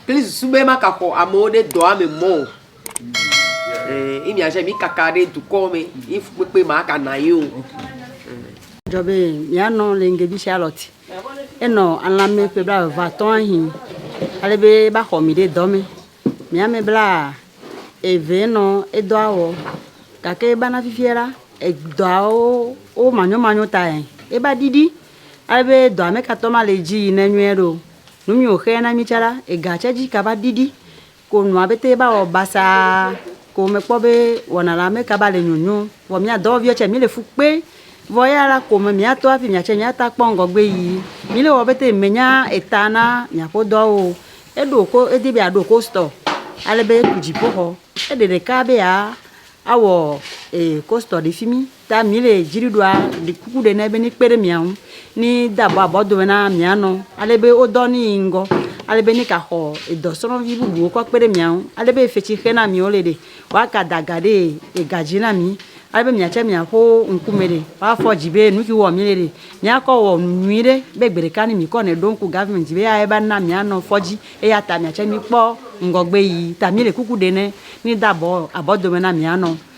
kple susu be magaxɔ amewo ɖe dɔa me mɔ o. Ee, imi aje mi kaka ɖe dukɔ me, yi fukpekpe ma aka na yi o. Dzɔ be mianɔ le ŋgebi Charlotte. Enɔ alãme ƒe blaeve atɔ̃ ahi. Ale be ba xɔ mi ɖe dɔ me. Mi ame bla eve nɔ edɔa wɔ. Gake eba na fifia la, edɔawo wo manyomanyo tae eba ɖiɖi. Ale be dɔa me katɔ ma le dzi yi ne nyuie ɖo. Nu mi wo xe na mi tsa la, ega tse dzi kaba ɖiɖi ko nua bete ba wɔ basaa ko me kpɔ be wɔna la me kaba le nyonyo. Vɔ mia dɔwɔ viwo tse mi le fu kpe vɔ eya la ko me mia tɔ hafi mia tse mia ta kpɔ ŋgɔgbe yi. Mi le wɔ bete me nya eta na mia ƒe dɔa wo. Eɖo ko edi be ya ɖo ko stɔ ale be ku dziƒo xɔ. Eɖe ɖeka be ya awɔ ko stɔ ɖe fimi. Ta mi le dzri ɖoa ɖi kuku ɖe nɛ be ni kpe ɖe mia ŋu ni de abɔ abɔ dome na mia nɔ. Ale be wo dɔ ni yi ŋgɔ. Ale be ni ka xɔ edɔ srɔvi bubu wo kɔ kpe ɖe mia ŋu. Ale be efetsi xe na mi wo le ɖe. Wa ka da ga ɖe ega dzi na mi. Ale be mia tse mia ƒo ŋku me ɖe. Wa fɔ dzi be nuki wɔ mi le ɖe. Mia kɔ wɔ nu nyui ɖe be gbe ɖeka ni mi kɔ nɛ ɖo ŋku government dzi be ya eba na mia nɔ fɔ dzi. Eya ta mia tse mi kpɔ ŋgɔgbe yi. Ta mi le kuku ɖe nɛ ni de abɔ abɔ dome na mia nɔ.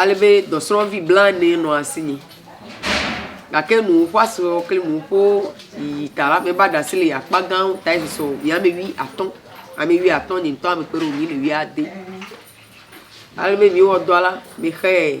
alebe dɔsrɔ̃vi blaene nɔ asinye gake nu woƒe asewo kple nu woƒe yiyi ta la, meva ɖe asi le yi akpa gãwo ta esi sɔ yi ame wuiatɔ̃. Ame wuiatɔ̃ nye ŋutɔ mekpe ɖe wo ŋu yi le wuiade. Alebe mìwɔ dɔa la, mexee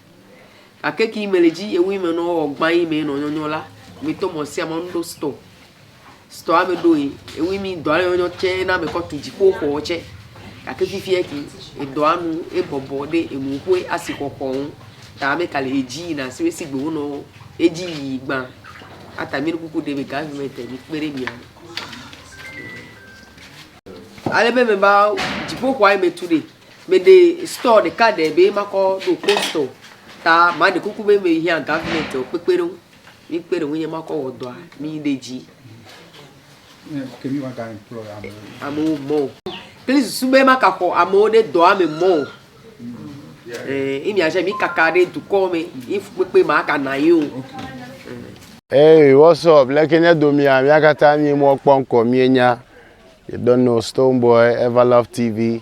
Gake ki mele dzi ye wui me nɔ wɔ gbã yi me nɔ nyɔnyɔ la, mi tɔ mɔ sia mɔ nuɖo stɔ. Stɔ ame ɖo yi, ewui mi dɔ ale nyɔnyɔ tse na me kɔ tu dziƒo xɔ tse. Gake fifi yɛ ki edɔ anu ebɔbɔ ɖe enu ƒue asi xɔ xɔ ŋu. Ta ame ka le edzi yi na si we si gbe wo nɔ edzi yi gbã. Ata mi ɖo kuku ɖe be government mi kpe ɖe mia ŋu. Ale be me ba dziƒo xɔa yi me tu ɖe Meɖe store ɖeka ɖe be makɔ ɖo post o ta maɖe kuku be mehiã government o kpekpeɖeŋu mikpe ɖe ŋunye makɔ wɔ dɔa miɖe dzi. Ke mi wa ga employ amewo. Amewo mɔ o. Kple susu be makaxɔ amewo ɖe dɔa me mɔ o. Eh, imi aja mi kaka ɖe dukɔ me, ifu kpekpe ma aka na yi o. Hey, what's up? Leke nye domia, mia katã mi mɔ kpɔ ŋkɔ mie nya. You don't know Stonebwoy, Everlove TV,